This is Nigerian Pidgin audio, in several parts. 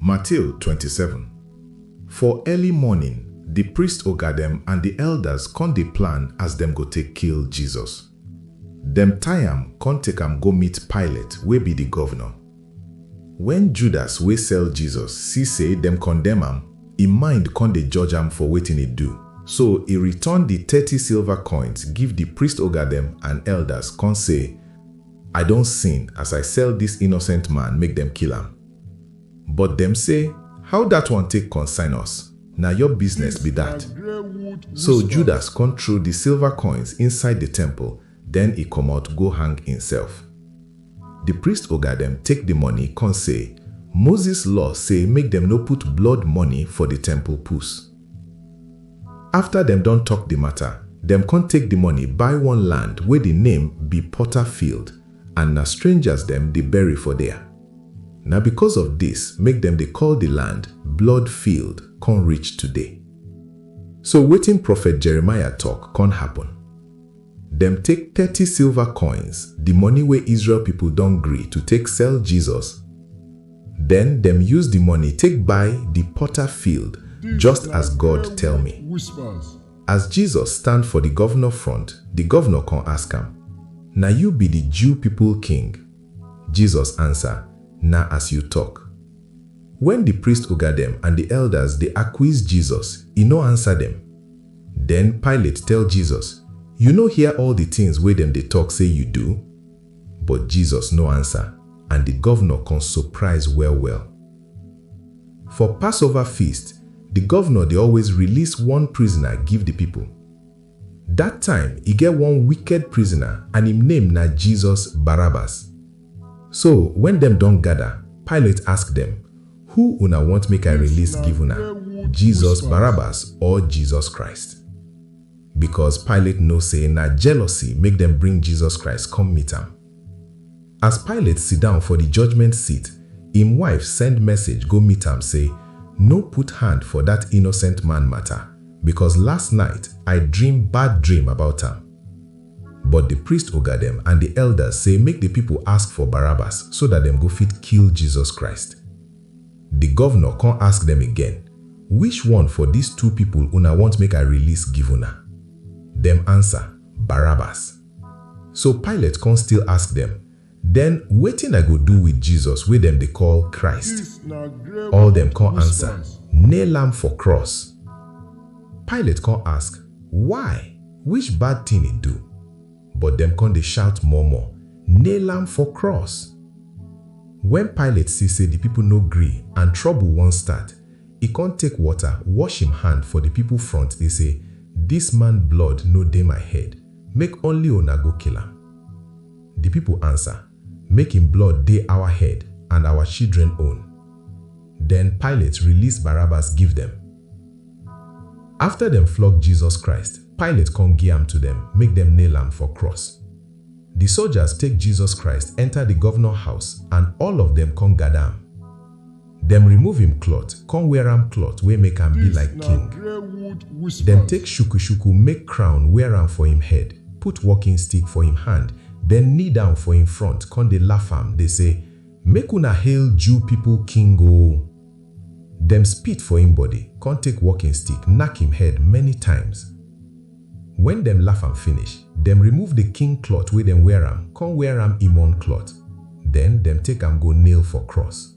Matthew twenty seven, For early morning, di priest oga dem and di elders kon dey plan as dem go take kill Jesus. Dem tie am kon take am go meet Pilate wey bi di govnor. Wen Judas wey sell Jesus si sey dem kondemn am, e mind kon dey judge am for wetin e do. So e return di thirty silver koins give di priest oga dem and elders kon sey, I don sin as I sell dis innocent man make dem kill am. But dem say, How dat one take concern us? Na your business be dat. So Judas kon trow di silver koins inside di temple, den e komot go hang imself. Di priest oga dem take di money kon say, Moses law say make dem no put blood money for di temple pus. Afta dem don tok di mata, dem kon take di money buy one land wey di name bi Potter Field and na strangers dem di bury for der. Na bikos of dis make dem dey call di land blood field kon reach today. So wetin Profet Jeremiah tok kon happen. Dem take thirty silva koins, di money wey Israel pipol don gree to take sell Jesus, den dem use di money take buy di potter field just as God tell me. As Jesus stand for di govnor front, di govnor kon ask am, Na yu bi di Jew pipol king? Jesus ansa, Na as yu tok. Wen di priest oga dem and di eldas dey akwiz Jesus, e nor ansa dem. Den Pilate tell Jesus, Yu nor hear all di tins wey dem dey tok sey yu du? Bot Jesus nor ansa, and di govnor kon sopraiz well-well. For Passova Feast, di govnor dey always rilis one prizna give di pipol. Dat time e get one wicked prisoner and im name na Jesus Barabbas. So wen dem don gada, Pilate ask dem, Who una want make I release give una, Jesus Barabbas or Jesus Christ? Becos Pilate know sey na jealousy make dem bring Jesus Christ come meet am. As Pilate siddon for di judgement seat, im wife send message go meet am sey, No put hand for dat innocent man mata, becos last night I dream bad dream about am. But di priest oga dem and di elders sey make di pipo ask for Barabbas so dat dem go fit kill Jesus Christ. Di govnor con ask dem again, Which one for dis two pipo una want make I release give una? Dem ansa, Barabbas. So Pilate kon still ask dem, Den wetin I go do with Jesus wey dem dey call Christ? All dem kon ansa, Nail am for cross! Pilate kon ask, Why? Which bad tin e do? But dem kon dey shout more-more, Nail am for cross! Wen Pilate see sey di pipol no gree and trobol won start, e kon take wota wosh im hand for di pipol front dey sey, Dis man blood no dey my head! Make only una go kill am. Di pipo ansa, Make im blood dey awa head and awa chidren own. Den Pilate release Barabbas give dem. Afta dem flog Jesus Christ, Pilate kon gi am to dem make dem nail am for cross. Di sojas take Jesus Christ enta di govnor house and all of dem kon gada am. Dem remove him cloth con wear am cloth wey make am be like king. Dem take shuku-shuku make crown wear am for him head, put walking stick for him hand, den knee down for him front con dey laff am dey say, Make una hail Jew pipo king o! Dem spit for him body con take walking stick knack him head many times. Wen dem laff am finish, dem remove the king cloth wey dem wear am con wear am him own cloth, den dem take am go nail for cross.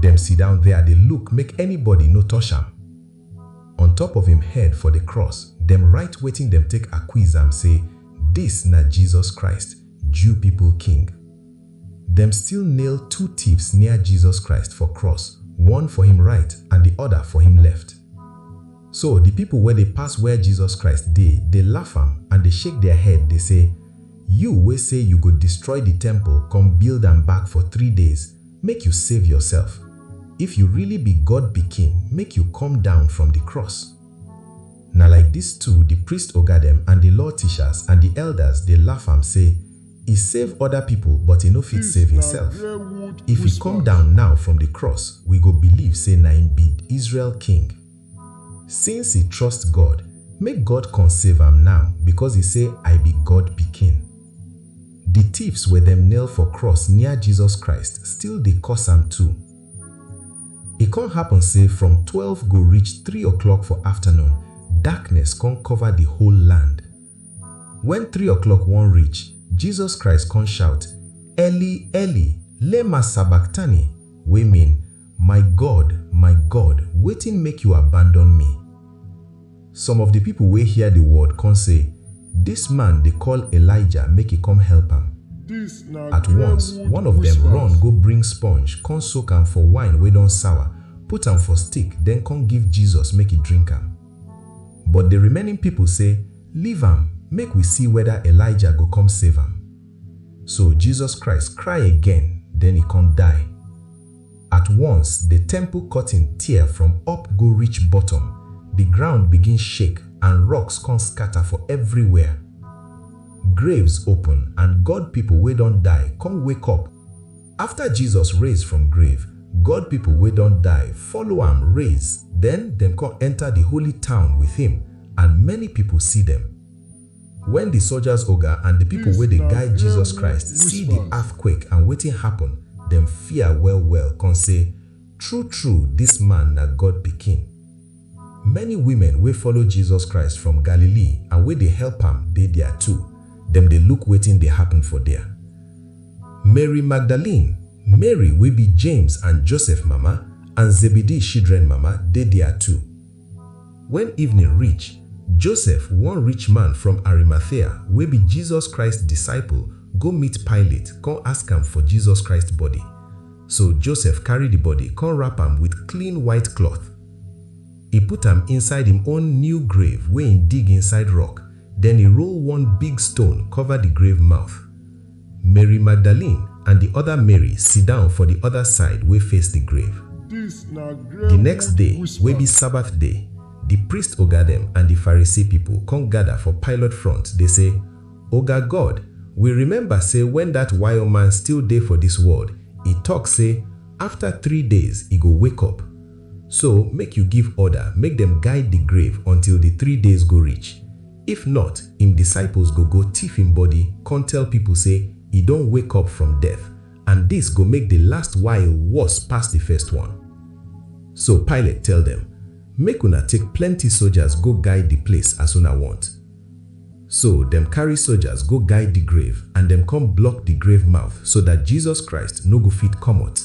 Dem sidown there dey look make anybody no touch am. On top of im head for the cross, dem write wetin dem take acquiz am say, Dis na Jesus Christ, Jew people King. Dem still nail two tiefs near Jesus Christ for cross, one for im right and the other for im left. So the people wey dey pass where Jesus Christ dey dey laugh am and dey shake their head dey say, You wey say you go destroy the temple come build am back for three days, Make you save yourself, if you really be God pikin make you come down from di cross. Na like dis too di priest oga dem and di law teachers and di elders dey laff am sey e save oda pipo but e no fit save himself. If e come down now from di cross we go believe sey na im be Israel king. Since e trust God, make God kon save am naw, bikos e sey, I bi God pikin. Di tifs wey dem nail for krus near Jesus Christ still dey kos am too. E kon happen sey from twelve go reach three o'clock for afternoon, darkness kon kover di whole land. Wen three o'clock won reach, Jesus Christ kon shout, Eli, Eli, lema sabachthani? wey mean, My God, my God, wetin make Yu abandon mi? Some of di pipol wey hear di word kon sey, Dis man dey koll Elijah make e kom help am. At wons, one of dem run go bring sponge kon soak am for wine wey don sawa, put am for stick, den kon give Jesus make e drink am. But di remaining pipol sey, Leave am, make wi si weda Elijah go kom save am. So Jesus Christ kry again, den e kon die. At once di temple curtain tear from up go reach bottom, di ground begin shake and rocks con scatter for everywhere. Graves open and God pipo wey don die con wake up. Afta Jesus raise from grave, God pipo wey don die follow am raise, den dem con enter di holy town with him and many pipo see dem. Wen di soldiers oga and di pipo wey dey guide Jesus Christ see di earthquake and wetin happun, dem fear well-well kon say, True-true, dis man na God Pikin. Many women wey follow Jesus Christ from Galilee and wey dey help am dey dia too, dem dey look wetin dey happun for dia. Mary Magdalene, Mary wey bi James and Joseph mama, and Zebedee shidren mama dey dia too. Wen evening reach, Josef, one rich man from Arimathea wey be Jesus Christ disciple, go meet Pilate kon ask am for Jesus Christ body. So Josef karry di body kon wrap am with clean white cloth. E put am inside im own new grave wey e dig inside rock, den e roll one big stone cover di grave mouth. Mary Magdalene and di oda Mary siddon for di oda side wey face di grave. Di next day, wey bi Sabbath day, di priest oga dem and di Pharisee pipol kon gada for Pilate front dey sey, Oga God, wi remember sey wen dat wire man still dey for dis world, e tok sey, Afta three days e go wake up. So, make yu give order make dem guide di grave until di three days go reach. If not, im disciples go go tiff im body kon tell pipol sey e don wake up from death, and dis go make di last wile worse pass di first one. So Pilate tell dem, Make una take plenty sojas go guide di place as una wont. So dem karry sojas go guide di grave and dem kon block di grave mouth so dat Jesus Christ no go fit komot.